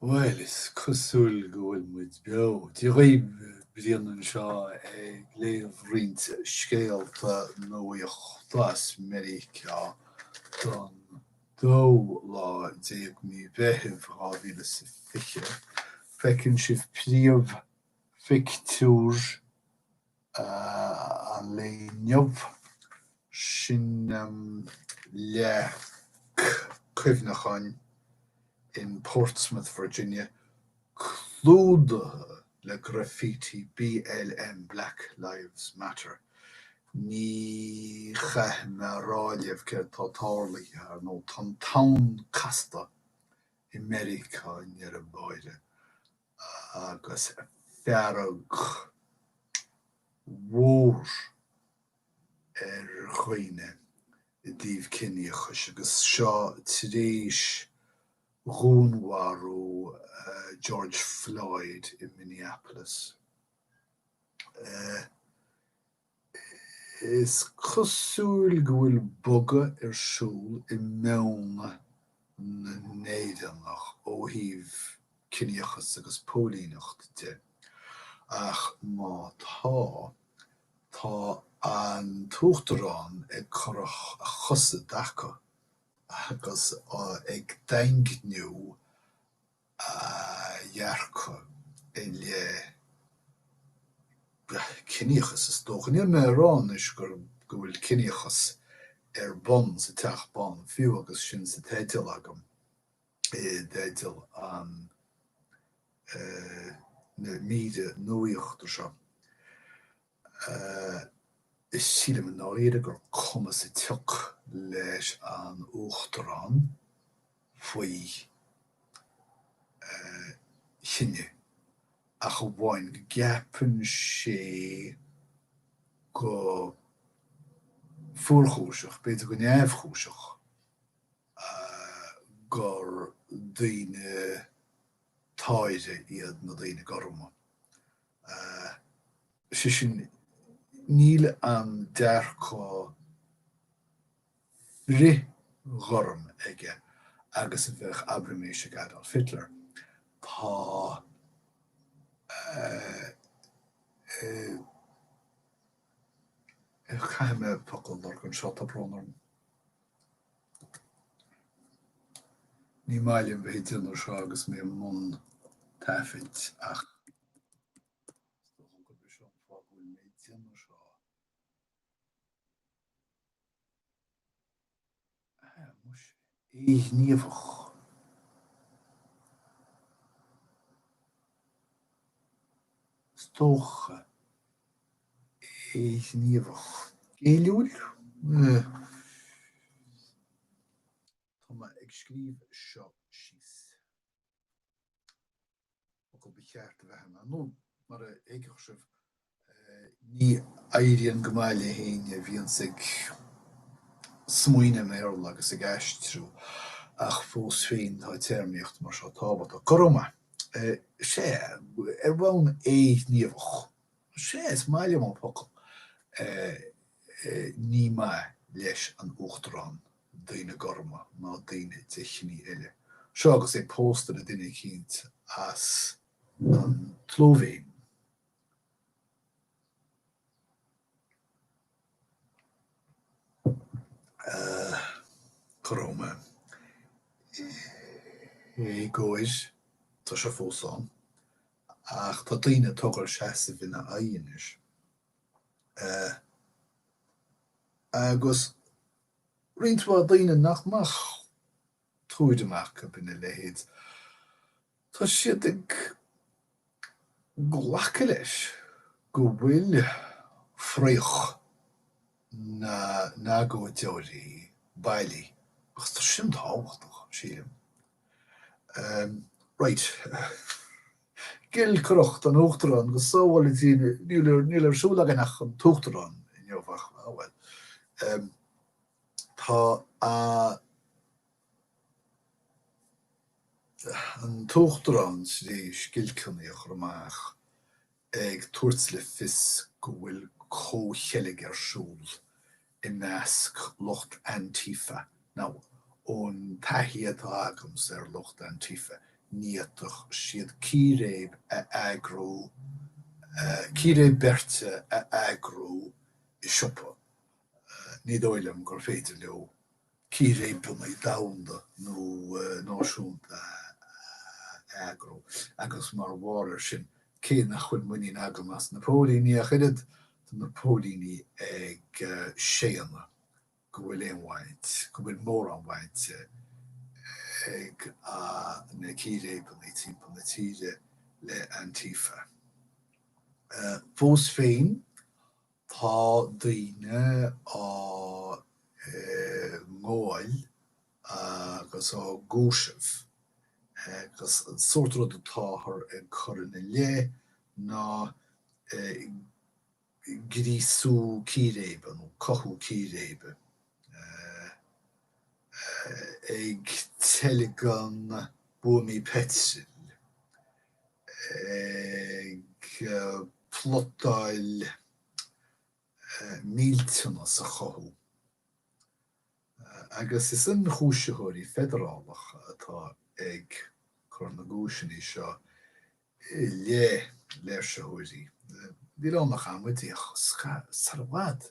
Bhuel, is cosúil go bhfuil muid beo. Dia dhaoibh, Brian anseo ag léamh roinnt scéalta nuachta as Meiriceá don dóú lá déag mí Mheithimh 2020. Feiceann sibh príomhphictiúr. an lae inniu, sin leac cuimhneacháin in Portsmouth, Virginia, clúdaithe le graffiti BLM, Black Lives Matter. Ní chaithfidh mé a rá libh céard atá tarlaithe, ar ndóigh. Tá an tonn casta i Meiriceá ar deireadh báire. agus fearg mhór ar dhaoine i dtaobh ciníochais, agus seo tar éis dhúnmharú George Floyd i Minneapolis. Is cosúil go bhfuil bogadh ar siúl i meon na Meiriceánach ó thaobh ciníochas agus póilíneacht de, ach má tá, tá an tUachtarán ag cur a chosa i dtaca agus ag daingniú a dhearcadh i leith ciníochas, is dócha. Níl mé ag rá anois gur go bhfuil ciníochas ar bun sa Teach Bán, fiú agus sin sa teideal agam, i dteideal na míre nuachta seo. Sílim i ndáiríre gur cuma sa tsioc leis an Uachtarán faoi chine ach amháin go gceapann sé go fuarchúiseach, b'fhéidir go neamhchúiseach, gur daoine táire iad na daoine gorma. Is é sin, níl an dearcadh frithghorm aige agus a bheadh, abraimis, ag Adolf Hitler. Tá a. Caithfidh mé focal a lorg anseo, tá brón orm. Ní maith liom bheith ag déanamh seo agus mé i mbun taifid ach is dócha gurb é seo an fáth go bhfuil mé ag déanamh seo. Ah, muise, éighníomhach. Is dócha. éighníomhach, géilliúil? Tá mé ag scríobh seo síos. Focal ba cheart a bheith ann, nó mar a thuigfeadh sibh, ní éiríonn go maith le héinne a bhíonns ag smaoineamh i mBéarla agus ag aistriú, ach fós féin tá téarmaíocht mar seo tábhachtach. Go raibh maith. Sea, ar bhonn éighníomhach. Sea, is maith liom an focal. Ní maith leis an Uachtarán daoine gorma ná daoine de chine eile. Seo agus é pósta le duine eicínt as an tSlóivéin. Go raibh maith. Éagóir, tá sé fós ann. ach tá daoine ag tógáil seasaimh ina aghaidh anois agus roinnt mhaith daoine nach mbeadh tuairim acu ina leithéid, tá siad ag glacadh leis go bhfuil fraoch. na n-agóideoirí bailí, agus tá sin tábhachtach, sílim. Raight. Giolcaireacht an Uachtaráin go sábhála Dia sinn. Níl ar siúl againn ach an tUachtarán inniu ach, á bhuel. Tá an tUachtarán tar éis giolcanna a chur amach ag tabhairt le fios go bhfuil comhcheilg ar siúl i measc lucht Antifa, now, ón taithí atá agamsa ar lucht Antifa, ní fhéadfadh siad círéib a eagrú, círéib beirte a eagrú i siopa, ní dóigh liom gur féidir leo círéibeanna domhanda nó náisiúnta a eagrú agus mar bharr ar sin, cé nach bhfuil muinín agam as na póilíní ach oiread, tá na póilíní ag séanadh go bhfuil aon bhaint, go bhfuil mórán baint ag na círéibeanna timpeall na tíre le Antifa. Fós féin. Tá daoine á ngabháil agus á gcúiseamh agus an sórt rud atáthar ag cur ina leith ná gríosú círéibe nó cothú círéibe ag teilgean buamaí peitril. ag plotáil millteanas a chothú, agus is ionchúisitheoirí feidearálacha atá ag cur na gcúiseanna seo i leith léirsitheoirí. Níl ann ach amaidí sar i bhfad.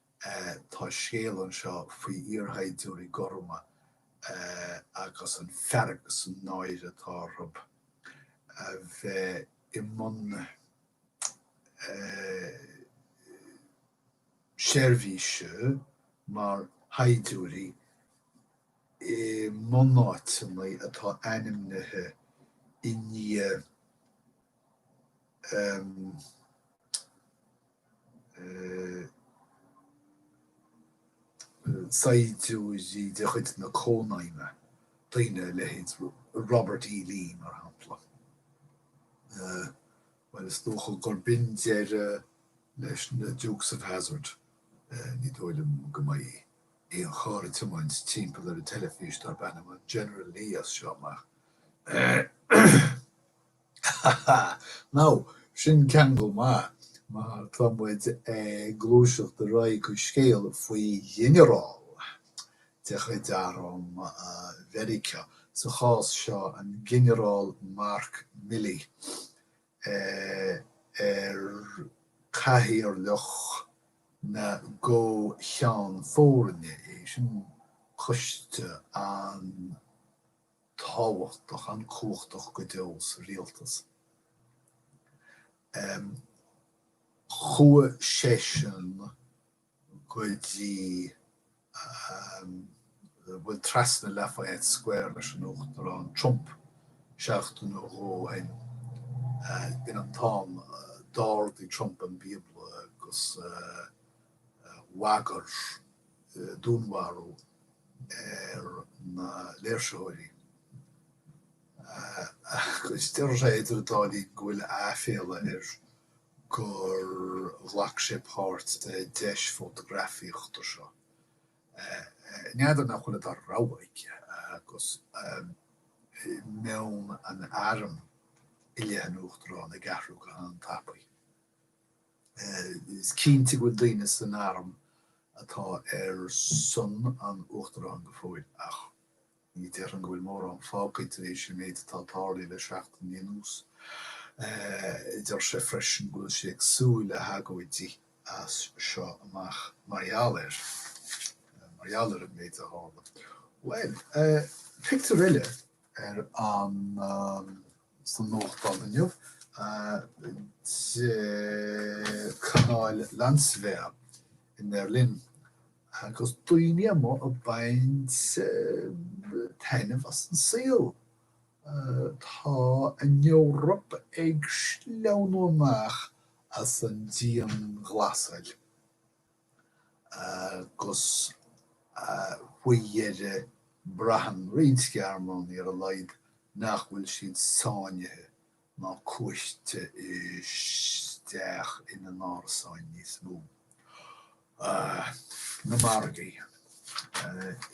Tá scéal anseo faoi iarshaighdiúirí gorma agus an fhearg is an náire atá orthu a bheith i mbun seirbhíse mar shaighdiúirí i mbunáiteanna atá ainmnithe i ndiaidh saighdiúirí de chuid na Cónaidhme, daoine a leithéid Robert E. Lee, mar shampla. Bhuel, is dócha gur b'in deireadh leis na Dukes of Hazzard. Ní dóigh liom go mbeidh aon charr ag tiomáint timpeall ar an teilifís darb ainm an General Lee as seo amach. Now, sin ceangal maith, mar tá muid ag gluaiseacht ar aghaidh chuig scéal faoi ghinearál de chuid arm Mheiriceá, sa chás seo an Ginearál Mark Milley, ar cathaoirleach na gComh-Cheann Foirne é, sin coiste an- tábhachtach an-chumhachtach go deo sa rialtas. Chuaigh seisean go dtí bhuel trasna Lafayette Square leis an Uachtarán Trump seachtain nó dhó ó shin. B'in an t-am a d'ardaigh Trump an Bíobla agus bhagair. dúnmharú ar na léirsitheoirí agus deir sé, idir an dá linn, go bhfuil aiféala air gur ghlac sé páirt sa deis fótagrafaíochta seo. N'fheadar nach bhfuil an dara rogha aige agus meon an airm i leith an Uachtaráin ag athrú go han-tapaidh. Is cinnte go bhfuil daoine san arm atá ar son an Uachtaráin go fóill ach ní déarfainn go bhfuil mórán fágtha tar éis an méid atá tarlaithe le seachtainí anuas. Deir sé freisin go bhfuil sé ag súil le hagóidí as seo amach mar gheall air, mar gheall ar an méid a tharla. Bhuel, pictiúr eile ar an. sa nuachtán inniu de canáil Landswehr in Berlin agus daoine amuigh ag baint taitneamh as an saol. Tá an Eoraip ag sleamhnú amach as an dianghlasáil. agus faoi dheireadh braitheann roinnt Gearmánaigh ar a laghad nach bhfuil siad sáinnithe ná cuaiste isteach ina n-árasáin níos mó. Na margaí.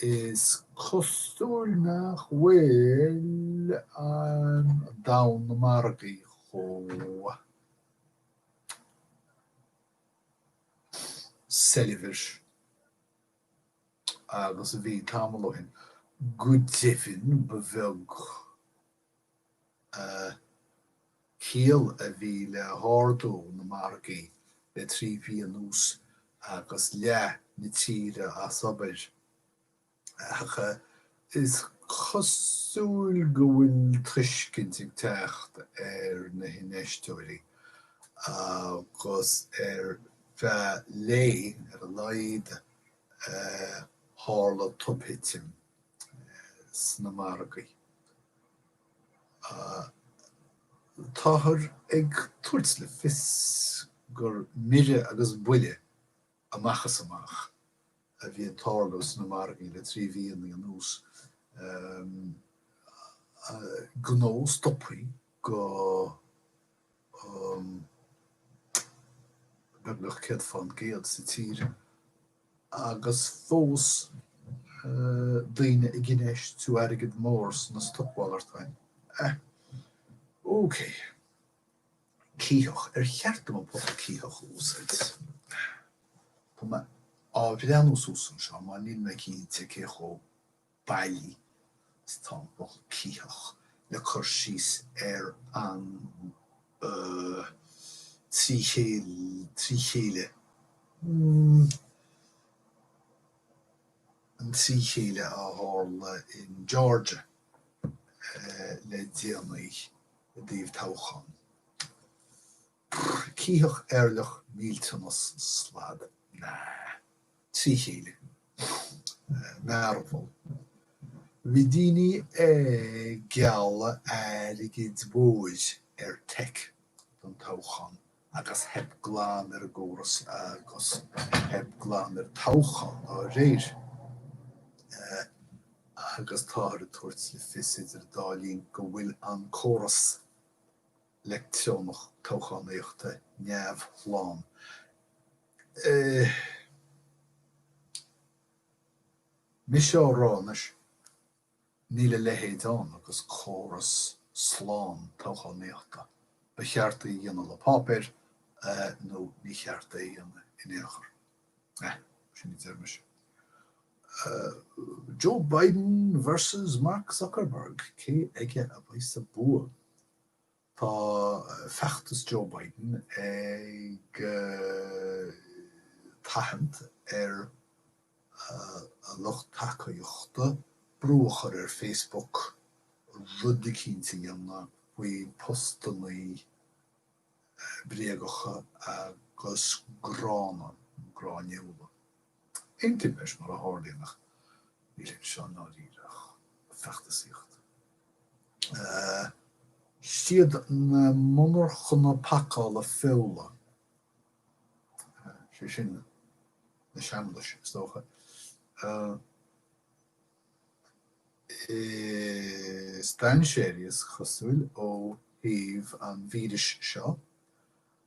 Is cosúil nach bhfuil an domhan na margaí chomh. soilbhir agus a bhí tamall ó shin. Go deimhin ba bheag ciall a bhí le hardú na margaí le trí mhí anuas agus leath na tíre as obair. Ach is cosúil go bhfuil tuiscint ag teacht ar na hinfheisteoirí, agus ar feadh lae, ar a laghad, tharla tobthitim sna margaí. Táthar ag tabhairt le fios gur mire agus buile amach is amach a bhí ag tarlú sna margaí le trí mhí anuas. Gnó stopaithe go beagnach céad fán gcéad sa tír agus fós daoine ag infheistiú airgead mór sna stocmhalartáin. Ahh. Ócé. Cítheach, ar cheart dom an focal cítheach a úsáid? Tá mé á bhreathnú suas anseo mar níl mé cinnte cé chomh bailí is atá an focal cítheach le cur síos ar an trí chéile, an trí chéile a tharla in Georgia le déanaí. i dtaobh toghchán. Bhí eirleach millteanach, slad, trína chéile. Mearbhall. Bhí daoine ag gealladh airgid mhóir ar Tech don toghchán agus theip glan ar an gcóras agus theip glan ar an toghchán dá réir. Agus táthar ag tabhairt le fios idir an dá linn go bhfuil an córas leictreonach toghchánaíochta neamhshlán. Mise á rá anois. Níl a leithéid ann agus córas slán toghchánaíochta. Ba cheart é a dhéanamh le páipéar nó ní cheart é a dhéanamh in aon chor. Eh. sin a deir mise. Joe Biden versus Mark Zuckerberg, cé aige a bheas an bua? Tá feachtas Joe Biden ag tathant ar a lucht tacaíochta brú a chur ar Facebook rud eicínt a dhéanamh faoi phostannaí bréagacha agus gránna, nó gráiniúla, Aontaím leis, mar a tharlaíonn, ach níl anseo i ndáiríre ach feachtasaíocht. Siad na monarchana pacála feola, sé sin, na seamlais, is dócha, is dainséaraí, is cosúil, ó thaobh an víris seo,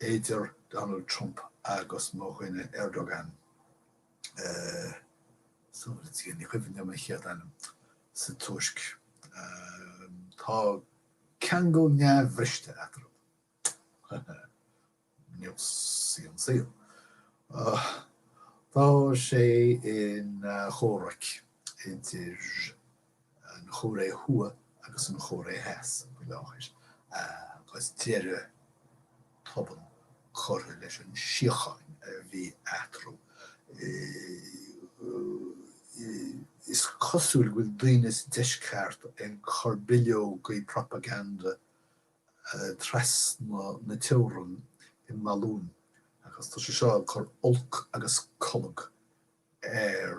idir Donald Trump agus mo dhuine Erdogan, eh, ní cuimhin liom an chéad ainm, sa Tuirc. Tá ceangal neamhbhriste eatarthu. Nach aisteach an saol. Tá sé ina chomhrac idir an Chóiré Thuaidh agus an Chóiré Theas faoi láthair agus deireadh tobann curtha leis an síocháin a bhí eatarthu. Is cosúil go bhfuil daoine sa deisceart ag cur bileogaí propaganda trasna na teorann i mbalúin agus tá sé seo ag cur olc agus colg ar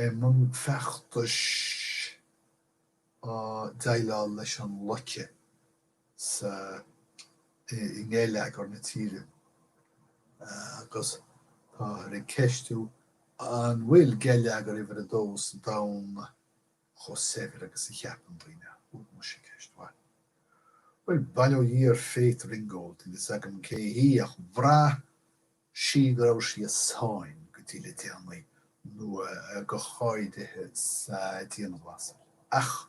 I mbun feachtais ag déileáil leis an loiceadh sa i ngeilleagar na tíre agus táthar ag ceistiú an bhfuil geilleagar uimhir a dó sa domhan chomh saibhir agus a cheapann daoine. Ó, muise, ceist mhaith. Bhuel, bail ó Dhia ar Faith Ringgold, níl 'fhios agam cé hí, ach bhraith sí go raibh sí i sáinn go dtí le déanaí, nó go háirithe sa dianghlasáil. Ach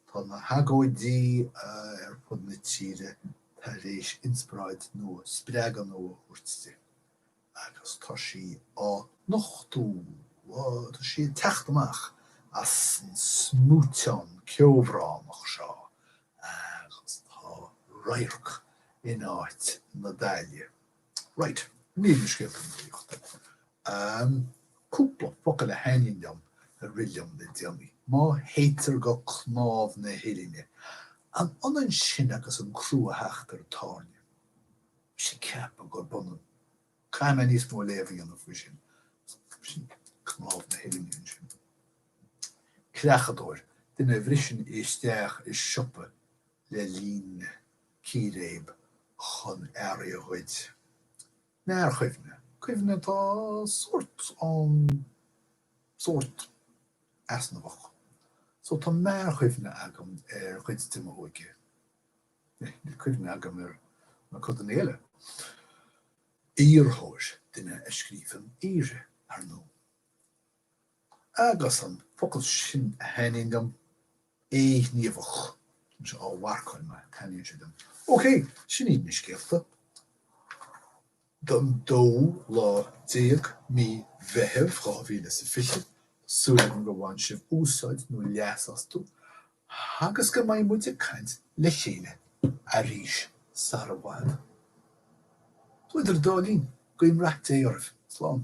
tá na hagóidí ar fud na tíre tar éis inspioráid nua, spreagadh nua a thabhairt di agus tá sí á nochtú, tá sí ag teacht amach as an smúiteán ceobhránach seo agus tá radharc in áit na daille. Right, níl na scéalta ina dtaobh dom ach cúpla focal a thaitníonn liom a rith liom le déanaí. Má théitear go cnámh na huillinne, an ionann sin agus an crú a theacht ar an tairne? Bhí sí ag ceapadh gurb ionann. Caithfidh mé níos mó léamh a dhéanamh faoi sin. Sin cnámh na huillinne ansin. Creachadóir, duine a bhriseann isteach i siopa le linn círéib chun earraí a ghoid. Mearchuimhne, cuimhne atá sórt ann sórt easnamhach. So tá mearchuimhne agam ar chuid de m'óige. Níl cuimhne agam ar na codanna eile. Aorthóir, duine a scríobhann aortha, ar ndóigh. Agus an focal sin a thaitníonn liom, éighníomhach, anseo á mharcáil mar Taitníonn sé liom. OK, sin iad na scéalta don dóú lá déag, mí Mheithimh, dhá mhíle is a fiche. Súil agam gur bhain sibh úsáid nó leas astu agus go mbeidh muid ag caint le chéile arís sara bhfad. Nó idir an dá linn, guím rath Dé oraibh. Slán.